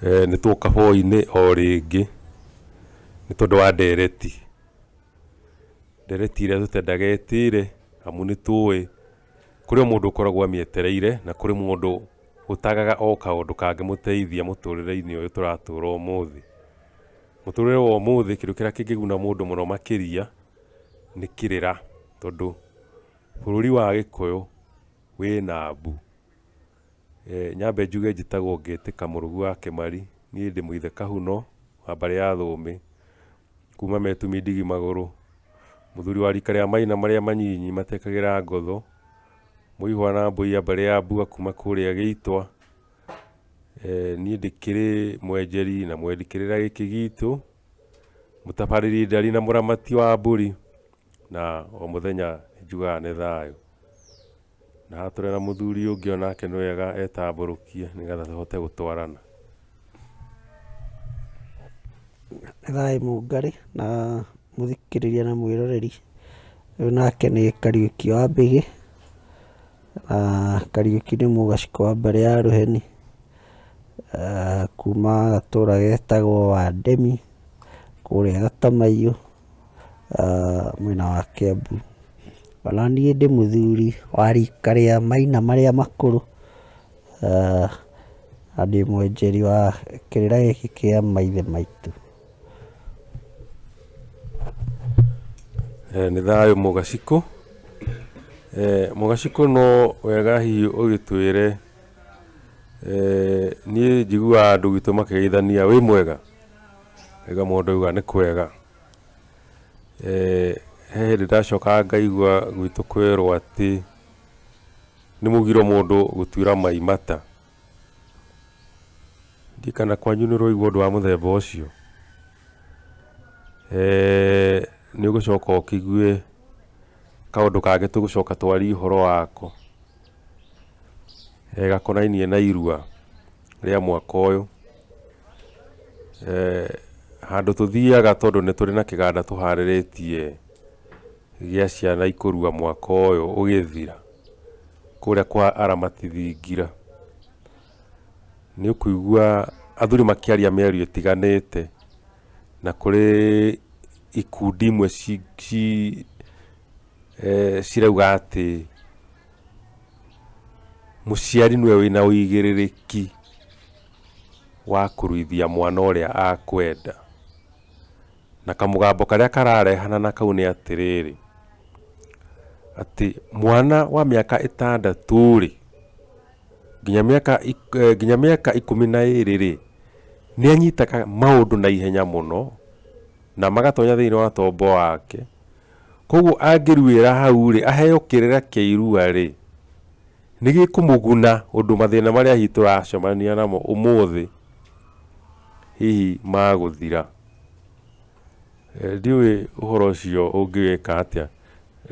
Eh, nĩ twoka hwainĩ o rĩngĩ nĩ tondũ wa ndereti ndereti ĩrĩa tũtendaga ĩtĩre amu nĩ tũĩ kũrĩ o mũndũ ũkoragwo amĩetereire na kũrĩ mũndũ ũtagaga o kaũndũ kangĩmũteithia mũtũrĩre-inĩ ũyũ tũratũra ũmũthĩ. Mũtũrĩre wa ũmũthĩ kĩndũ kĩrĩa kĩngĩguna mũndũ makĩria nĩ kĩrĩra tondũ bũrũri wa gĩkũyũ wĩ Nabu. Nyambe njuge njĩtagwo Ngĩtĩka Mũrũgu wa Kĩmari, niĩ ndĩ mũithe Kahuno wa mbarĩ ya Thũmbĩ, kuma Metumi ndigi magũrũ, mũthuri wa rika rĩa maina marĩa manyinyi matekagĩra ngotho, mũihwa na mbũiya mbarĩ ya Mbua kuma kũrĩa Gĩitwa. Niĩ ndĩkĩrĩ mwenjeri na mwendi kĩrĩra gĩkĩ gitũ. mũtabarĩri ndari na mũramati wa mbũri, na o mũthenya njugaga nĩ thayũ. Na haha tũrĩ na mũthuri ũngĩ o nake nĩ wega etambũrũkie nĩ getha tũhote gũtwarana. Nĩ thayũ mũngarĩ na mũthikĩrĩria na mwĩroreri. Ũyũ nake nĩ Kariũki wa Mbĩgĩ, Na Kariũki nĩ mũgacĩko wa mbarĩ ya Rũheni, kuma gatũra getagwo Wandemi, kũrĩa Gatamaiyũ, mwena wa Kĩambu. Ona niĩ ndĩ mũthuri wa rika rĩa maina marĩa makũrũ, na ndĩ mwonjori wa kĩrĩra gĩkĩ kĩa maithe maitũ. Eh, nĩ thayũ mũgacikũ Eh, mũgacikũ no wega hihi ũgĩtwĩre eh, niĩ njiguaga andũ gwitũ makĩgeithania wĩ mwega ega mũndũ auga nĩ kwega Eh, he hĩndĩ ndacokaga ngaigua gwitũ kwerwo atĩ nĩ mũgiro mũndũ gũtuĩra mai mata Ndiũĩ kana kwanyu nĩ ũroigua ũndũ wa mũthemba ũcio. Nĩ ũgũcoka ũkĩigue kaũndũ kangĩ tũgũcoka twarie ũhoro wako, gakonainie na irua rĩa mwaka ũyũ. Handũ tũthiaga tondũ nĩ tũrĩ na kĩganda tũharĩrĩtie gĩa ciana ikũrua mwaka ũyũ ũgĩthira. kũrĩa kwa aramati thingira nĩ ũkũigua athuri makĩaria mĩario ĩtiganĩte na kũrĩ ikundi imwe ci- ci- eh, cirauga atĩ mũciari nĩwe wĩna ũigĩrĩrĩki wa kũruithia mwana ũrĩa akwenda Na kamũgambo karĩa kararehana na kau nĩ atĩrĩrĩ, atĩ mwana wa mĩaka ĩtandatũ-rĩ, nginya mĩaka nginya mĩaka ikũmi na ĩrĩ-rĩ, nĩanyitaga maũndũ na ihenya mũno, na magatonya thĩiniĩ wa tombo wake, kuoguo angĩruĩra hau-rĩ, aheo kĩrĩra kĩa irua-rĩ, nĩgĩkũmũguna ũndũ mathĩna marĩa hihi tũracemania namo ũmũthĩ, hihi magũthira. Ndiũĩ ũhoro ũcio ũngĩwĩka atĩa.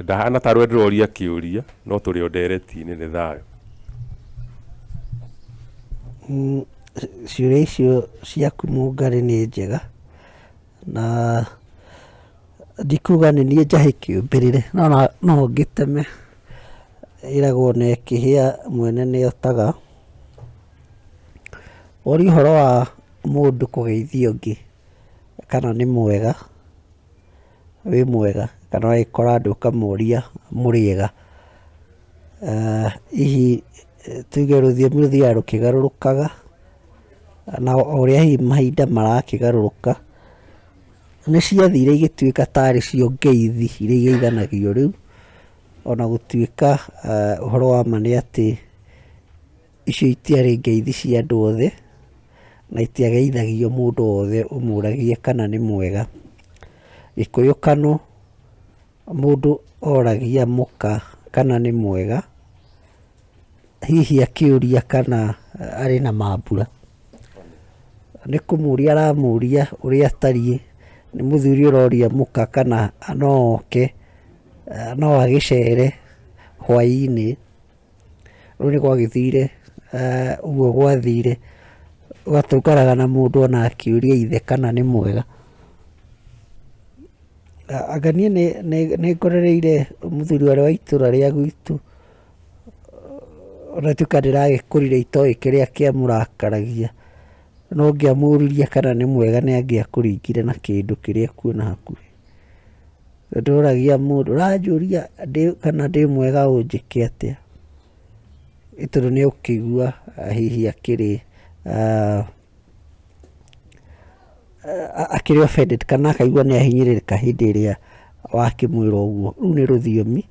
Ndahana tarĩ we ndĩroria kĩũria no tũrĩ o ndereti-inĩ. Nĩ thayũ. Ciũria icio ciaku mũngarĩ nĩ njega na ndikuga nĩ niĩ njahĩ kĩũmbĩrĩre no no ngĩteme. Ĩragwo na ĩkĩhĩa mwene nĩ otaga. Ũrĩ ũhoro wa mũndũ kũgeithia ũngĩ kana nĩ mwega, wĩ mwega, kana ũgagĩkora andũ ũkamũria mũrĩega. Hihi tuge rũthiomi rũthiaga rũkĩgarũrũkaga, na o ũrĩa hihi mahinda marakĩgarũrũka, nĩ ciathire igĩtuĩka tarĩ cio ngeithi iria igeiganagio rĩu, ona gũtuĩka ũhoro wa ma nĩ atĩ Icio itiarĩ ngeithi cia andũ othe, na itiageithagio mũndũ wothe ũmũragie kana nĩ mwega. Gĩkũyũ kano, mũndũ oragia mũka kana nĩ mwega, hihi akĩũria kana arĩ na mambura. Nĩ kũmũria aramũria ũrĩa atariĩ, nĩ mũthuri ũroria mũka kana no oke, no agĩcere hwainĩ. Rĩu nĩ gwagĩthire ũguo gwathire, gũgaikaraga na mũndũ ona akĩũria ithe kana nĩ mwega. Anga niĩ nĩ ngorereire mũthuri ũrĩa wa itũũra rĩa gwitũ, ona gũtuĩka ndĩragĩkũrire itoĩ kĩrĩa kĩamũrakaragia, no ngĩamũririe kana nĩ mwega nĩ angĩakũringire na kĩndũ kĩrĩa ekuona hakuhĩ. Nĩndoragia mũndũ, ũranjũria ndĩ kana ndĩ mwega ũnjĩke atĩa? Nĩ tondũ nĩũkũigua hihi akĩrĩ akĩrĩ offended kana akaigua nĩahinyĩrĩrĩka hĩndĩ ĩrĩa wakĩmwĩra ũguo. Rũu nĩ rũthiomi,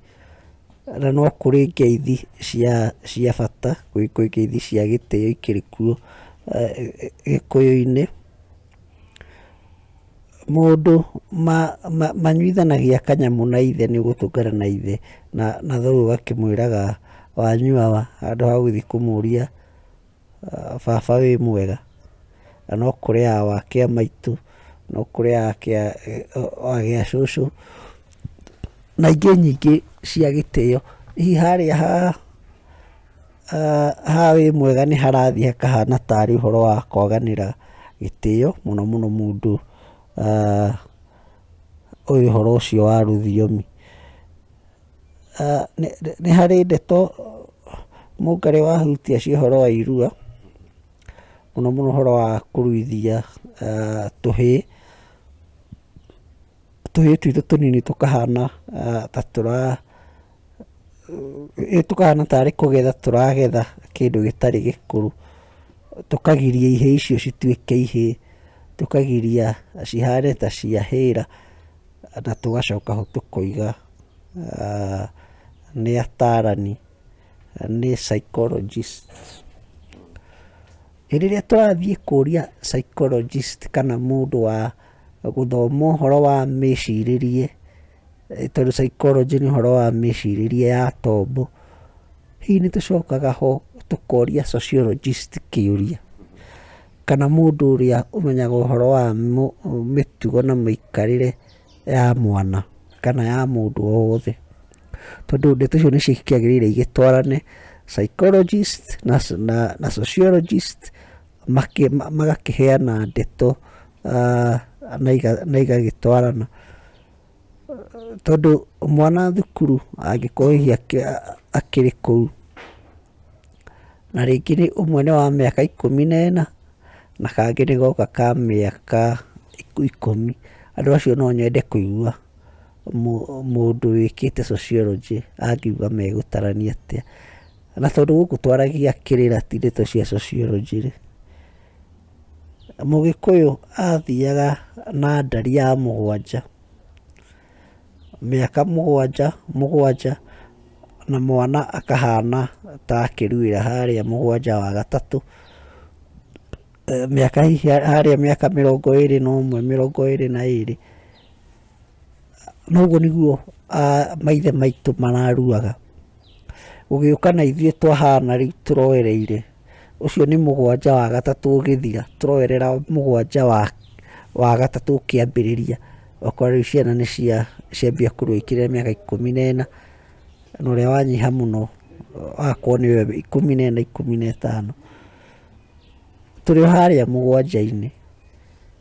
na no kũrĩ ngeithi cia cia bata, gwĩ ngeithi cia gĩtĩo ikĩrĩ kuo Gĩkũyũ-inĩ. Maũndũ manyuithanagia kanyamũ na ithe nĩ gũtũngana na ithe na thoguo akĩmwĩraga wanyua wa handũ ha gũthiĩ kũmũria baba wĩ mwega na no kũrĩaga wakĩa maitũ, no kũrĩaga gĩa cũcũ na ingĩ nyingĩ cia gĩtĩo. Hihi harĩa ha... Haha wĩ mwega nĩ harathiĩ hakahana tarĩ ũhoro wa kwaganĩra gĩtĩo mũno mũno mũndũ ũĩ ũhoro ũcio wa rũthiomi. Nĩ harĩ ndeto mũngarĩ wahutia cia ũhoro wa irua, mũno mũno ũhoro wa kũruithia tũhĩĩ, tũhĩĩ twitũ tũnini tũkahana ta tũra... Nĩ tũhana tarĩ kũgetha tũragetha kĩndũ gĩtarĩ gĩkũrũ, tũkagiria ihĩĩ icio cituĩke ihĩĩ, tũkagiria cihane ta cia hĩĩra na tũgacoka ho tũkoiga nĩ ataarani, nĩ psychologist. Hĩndĩ ĩrĩa tũrathiĩ kũria psychologist kana mũndũ wa gũthoma ũhoro wa mĩcirĩrie. tondũ psychology nĩ ũhoro wa mĩcirĩrie ya tombo, hihi nĩ tũcokaga ho tũkoria sociologist kĩũria, kana mũndũ ũrĩa ũmenyaga ũhoro wa mĩtugo na mĩikarĩre ya mwana kana ya mũndũ o wothe, tondũ ndeto icio nĩ ciagĩrĩire igĩtwarane, psychologist na sociologist makĩ, magakĩheana ndeto na igagĩtwarana. Tondũ mwana thukuru angĩkorwo hihi akĩrĩ kũu, na rĩngĩ nĩ ũmwe nĩ wa mĩaka ikũmi na ĩna, na kangĩ nĩ gaka ka mĩaka ikũmi, andũ acio no nyende kũigua mũndũ wĩkĩte sociology angiuga megũtarania atĩa. Na tondũ gũkũ twaragia kĩrĩra ti ndeto cia sociology rĩ, Mũgĩkũyũ athiaga na ndari ya mũgwanja, mĩaka mũgwanja mũgwanja na mwana akahana ta akĩruĩra harĩa mũgwanja wa gatatũ, mĩaka hihi harĩa mĩaka mĩrongo ĩrĩ na ũmwe, mĩrongo ĩrĩ na ĩrĩ. na ũguo nĩguo maithe maitũ mararuaga, gũgĩũka na ithuĩ twahana rĩu tũroereire, ũcio nĩ mũgwanja wa gatatũ ũgĩthira, tũroerera mũgwanja wa gatatũ ũkĩambĩrĩria, ũgakora rĩu ciana nĩ cia ciambia kũrua ikĩrĩ mĩaka ikũmi na ĩna, na ũrĩa wanyiha mũno agakorwo nĩwe ikũmi na ĩna ikũmi na ĩtano, tũrĩ o harĩa mũgwanja-inĩ.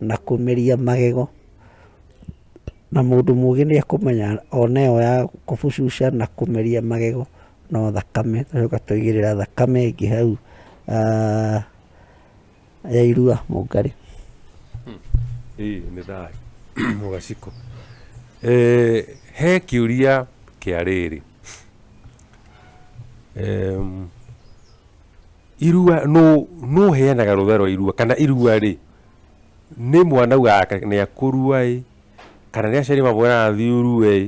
na kũmeria magego, na mũndũ mũgĩ nĩ ekũmenya ona ĩyo ya kũbucuca na kũmeria magego no thakame, tũgacoka tũgaitĩrĩra thakame ĩngĩ hau ya irua mũngarĩ. Hii nĩ thayũ mũgacikũ. He kĩũria kĩa rĩrĩ, Irua nũ nũ ũheanaga rũtha rwa irua kana irua rĩ nĩ mwana ugaga nĩ akũrua ĩ kana nĩ aciari mamwĩraga athiĩ ũrue ĩ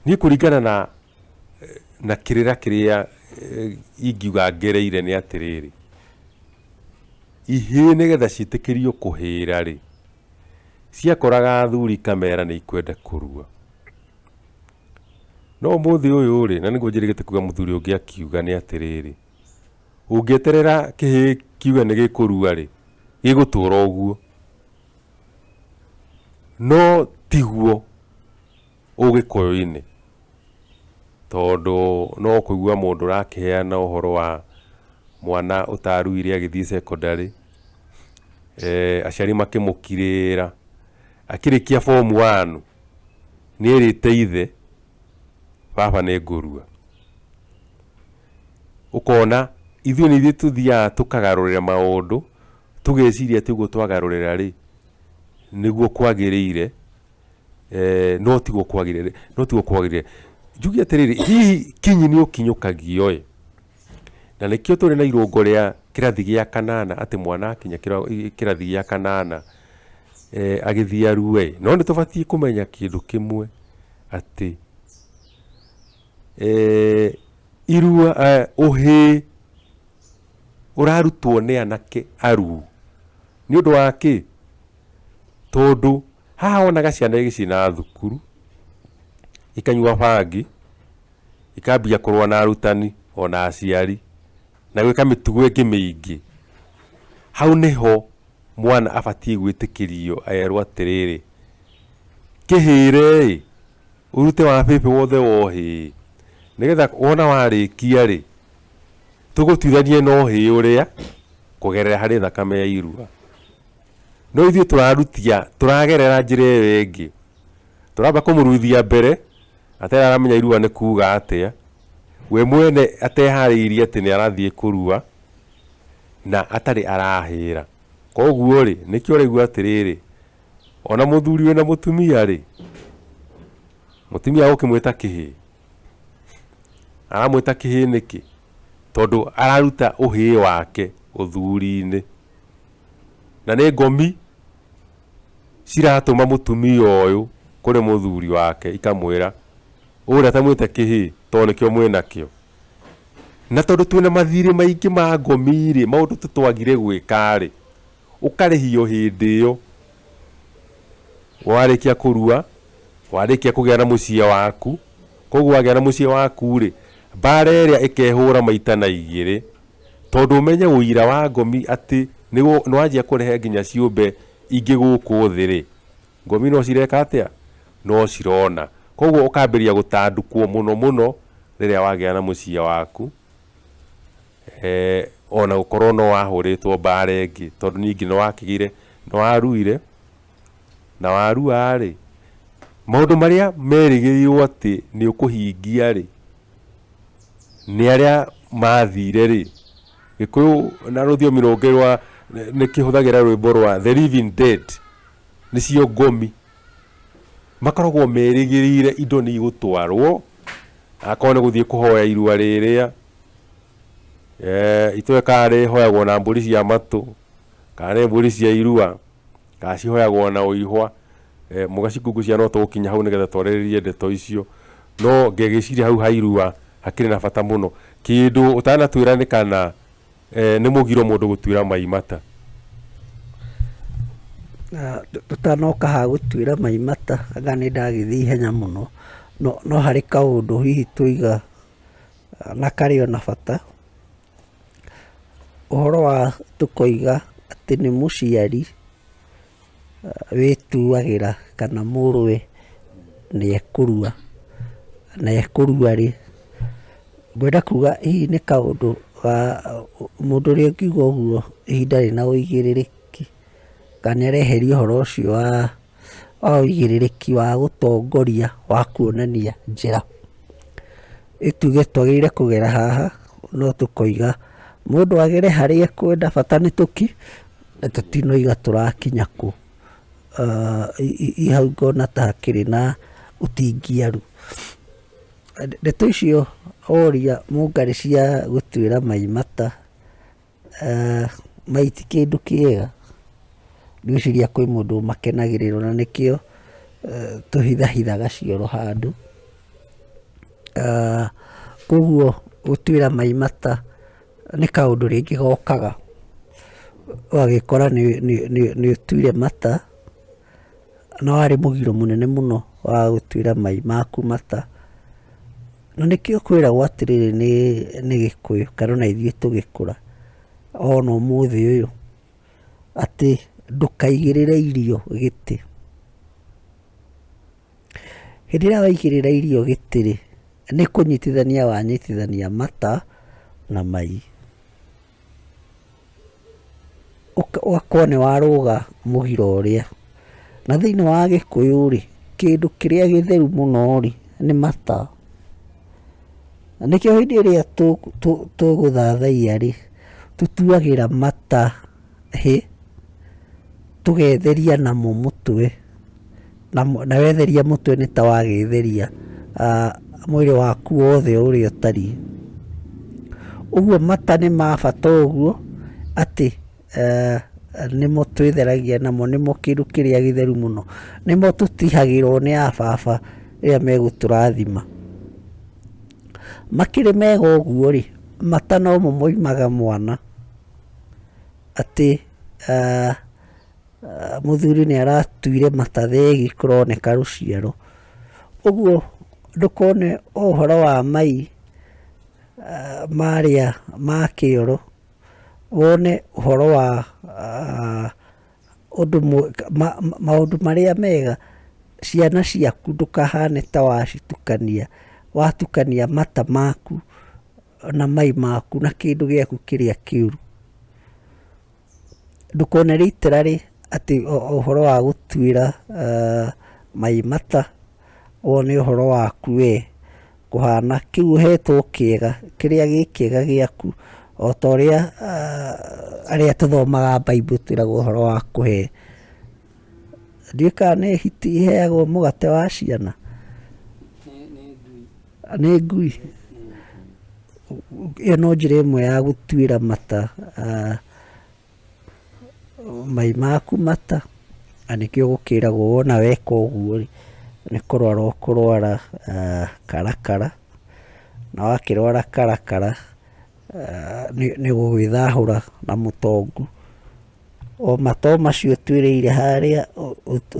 niĩ kũringana na na kĩrĩra kĩrĩa ingiuga ngereire nĩ atĩrĩrĩ, ihĩĩ nĩgetha ciĩtĩkĩrio kũhĩra rĩ, ciakoraga athuri kamera nĩ ikwenda kũrua. No ũmũthĩ ũyũ-rĩ, na nĩguo njĩrĩgĩte kuuga mũthuri ũngĩ akiuga nĩ atĩrĩrĩ, ũngĩeterera kĩhĩĩ kiuge nĩ gĩkũrua-rĩ, gĩgũtũra o ũguo. No tiguo ũgĩkũyũ-inĩ, tondũ no kũigua mũndũ ũrakĩheana ũhoro wa mwana ũtaruire agĩthiĩ secondary, aciari makĩmũkirĩrĩra, akĩrĩkia form one, nĩrĩte ithe baba nĩngũrua. Ũkona ithuĩ nĩ ithuĩ tũthiaga tũkagarũrĩra maũndũ tũgeciria atĩ ũguo twagarũrĩra rĩ nĩguo kwagĩrĩire no tiguo kwagĩrĩire, no tiguo kwagĩrĩire. Njuge atĩrĩrĩ hihi kinyi nĩũkinyũkagio ĩ? Na nĩkĩo tũrĩ na irũngo rĩa kĩrathi gĩa kanana, atĩ mwana akinya kĩrathi gĩa kanana agĩthiĩ arue-ĩ, no nĩtũbatiĩ kũmenya kĩndũ kĩmwe atĩ irua, ũhĩĩ ũrarutwo nĩ anake aruu, nĩũndũ wa kĩ? Tondũ... Haha wonaga ciana igĩcina thukuru, ikanyua bangi, ikambia kũrũa na arutani ona aciari, na gwĩka mĩtugo ĩngĩ mĩingĩ. Hau nĩho mwana abatiĩ gwĩtĩkĩrio erwo atĩrĩrĩ, kĩhĩre-ĩ, ũrute wabĩbĩ wothe wohĩ-ĩ, nĩgetha wona warĩkia-rĩ, tũgũtuithanie na ũhĩ ũrĩa kũgerera harĩ thakame ya irua. no ithuĩ tũrarutia tũragerera njĩra ĩyo ĩngĩ, tũramba kũmũruithia mbere atararamenya irua nĩ kuga atĩa, we mwene ateharĩirie atĩ nĩ arathiĩ kũrua na atarĩ arahĩra. Koguo rĩ, nĩkĩo rĩu atĩrĩrĩ, ona mũthuri wĩna mũtumia rĩ, mũtumia gũkĩmwĩta kĩhĩĩ, aramwĩta kĩhĩĩ nĩkĩ? Tondũ araruta ũhĩĩ wake ũthuri-inĩ. Na nĩ ngomi ciratũma mũtumia ũyũ kũrĩ mũthuri wake ikamwĩra ũrĩa atamwĩte kĩhĩĩ tondũ nĩkĩo mwĩnakĩo. Na tondũ twĩna mathirĩ maingĩ ma ngomi-rĩ, maũndũ tũtwagire gwĩka-rĩ, ũkarĩhio hĩndĩ ĩyo warĩkia kũrua, warĩkia kũgĩa na mũciĩ waku. Kuoguo wagĩa na mũciĩ waku-rĩ, mbara ĩrĩa ĩkehũra maita na igĩrĩ. Tondũ ũmenye ũira wa ngomi atĩ nĩ wanjia kũrehe nginya ciũmbe ingĩ gũkũ thĩ-rĩ, ngomi no cireka atĩa? No cirona. Koguo ũkambĩrĩria gũtandũkwo mũno mũno rĩrĩa wagĩa na mũciĩ waku, o na gũkorwo no wahũrĩtwo mbara ĩngĩ, tondũ ningĩ nĩ wakĩgĩire, nĩ waruire, na warua-rĩ, maũndũ marĩa merĩgĩrĩirwo atĩ nĩ ũkũhingia-rĩ, nĩ arĩa mathire rĩ, gĩkũyũ na rũthiomi rũngĩ rwa nĩ kĩhũthagĩra rwĩmbo rwa the living dead nĩcio ngomi, makoragwo merĩgĩrĩire indo nĩ igũtwarwo, akorwo nĩ gũthiĩ kũhoya irua rĩrĩa, itũĩ kana rĩhoyagwo na mbũri cia matũ, kana nĩ mbũri cia irua. Kana cihoyagwo na ũihwa, eh, mũgacikungucia no tũgũkinya hau nĩgetha twarĩrĩrie ndeto icio. No ngegĩciria hau ha irua hakĩrĩ na bata mũno. Kĩndũ ũtanatuĩra nĩ kana, eh, nĩ mũgiro mũndũ gũtuĩra mai mata. Na tũtanoka ha gũtuĩra mai mata, anga nĩ ndagĩthiĩ ihenya mũno, no no harĩ kaũndũ hihi twĩiga na karĩ o na bata. Ũhoro wa tũkoiga atĩ nĩ mũciari wĩtuagĩra kana mũrũwe nĩ ekũrua, na ekũrua rĩ, ngwenda kuga hihi nĩ kaũndũ ga, mũndũ ũrĩa ũngiuga ũguo ihinda rĩna ũigĩrĩrĩki, kana nĩ areheria ũhoro ũcio wa. wa ũigĩrĩrĩki wa gũtongoria wa kuonania njĩra. Nĩtuge twagĩrĩire kũgera haha, no tũkoiga mũndũ agere harĩa ekwenda bata nĩ tũki, na tũtinoiga tũrakinya kũ. Hau ngona ta hakĩrĩ na ũtingiaru. Ndeto icio oria mũngarĩ cia gũtuĩra Mai mata. Mai ti kĩndũ kĩega, ngwĩciria kwĩ mũndũ ũmakenagĩrĩra na nĩkĩo tũhithahithaga cioro handũ. Koguo gũtuĩra mai mata nĩ kaũndũ rĩngĩ gokaga ũgagĩkora nĩ ũtuire mata. Na warĩ mũgiro mũnene mũno wa gũtuĩra mai maku mata. Na nĩkĩo kwĩragwo atĩrĩrĩ nĩ, nĩ Gĩkũyũ, kana ona ithuĩ tũgĩkũra, ona ũmũthĩ ũyũ, atĩ ndũkaigĩrĩre irio gĩtĩ. Hĩndĩ ĩrĩa waigĩrĩra irio gĩtĩ-rĩ, nĩ kũnyitithania wanyitithania mata na mai. ũgakora nĩ warũga mũgira ũrĩa. Na thĩinĩ wa Gĩkũyũ rĩ, kĩndũ kĩrĩa gĩtheru mũno rĩ, nĩ mata. Na nĩkĩo hĩndĩ ĩrĩa tũgũthathaiya rĩ, tũtuagĩra mata hĩ, tũgetheria namo mũtwe. na wetheria mũtwe nĩ ta wagĩtheria mwĩrĩ waku wothe ũrĩa ũtariĩ. Ũguo mata nĩ ma bata ũguo atĩ nĩmo twĩtheragia namo, nĩmo kĩndũ kĩrĩa gĩtheru mũno. Nĩmo tũtihagĩrwo nĩ a baba rĩrĩa megũtũrathima. Makĩrĩ mega ũguo rĩ, mata nomo moimaga mwana atĩ Ah, mũthuri nĩ aratuire mata thegi kũroneka rũciaro ũguo ndũkone ũhoro wa mai ah, marĩa ma kĩoro wone ũhoro wa ah, ũndũ maũndũ marĩa mega ciana ciaku ndũkahane ta wacitukania watukania mata maku na mai maku na kĩndũ gĩaku kĩrĩa kĩũru ndũkone rĩitĩra rĩ atĩ ũhoro wa gũtuĩra mai mata, ũyũ nĩ ũhoro waku we kũhana, kĩu ũhetwo kĩega, kĩrĩa gĩ kĩega gĩaku, o ta ũrĩa arĩa tũthomaga Bible twĩragwo ũhoro wa kũhe, ndiũĩ kana nĩ hiti iheagwo mũgate wa ciana? Nĩ ngui. Ĩyo no njĩra ĩmwe ya gũtuĩra mata ah, mai maku mata na nĩkĩo gũkĩragwo wona weka ũguo rĩ nĩ kũrwara ũkũrwara ah, karakara na wakĩrwara karakara ah, nĩ nĩ gũgĩthahũra na mũtongu. O matoo macio ũtuĩrĩire harĩa,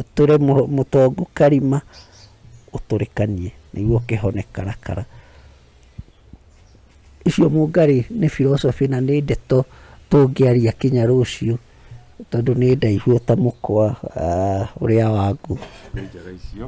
ũtũre mũtongu karima, ũtũrĩkanie nĩguo ũkĩhone karakara. Icio mũngarĩ nĩ philosophy na nĩ ndeto tũngĩaria kinya rũciũ tondũ nĩ ndaihu o ta mũkwa ũrĩa wa ngũ. Nĩ njega icio.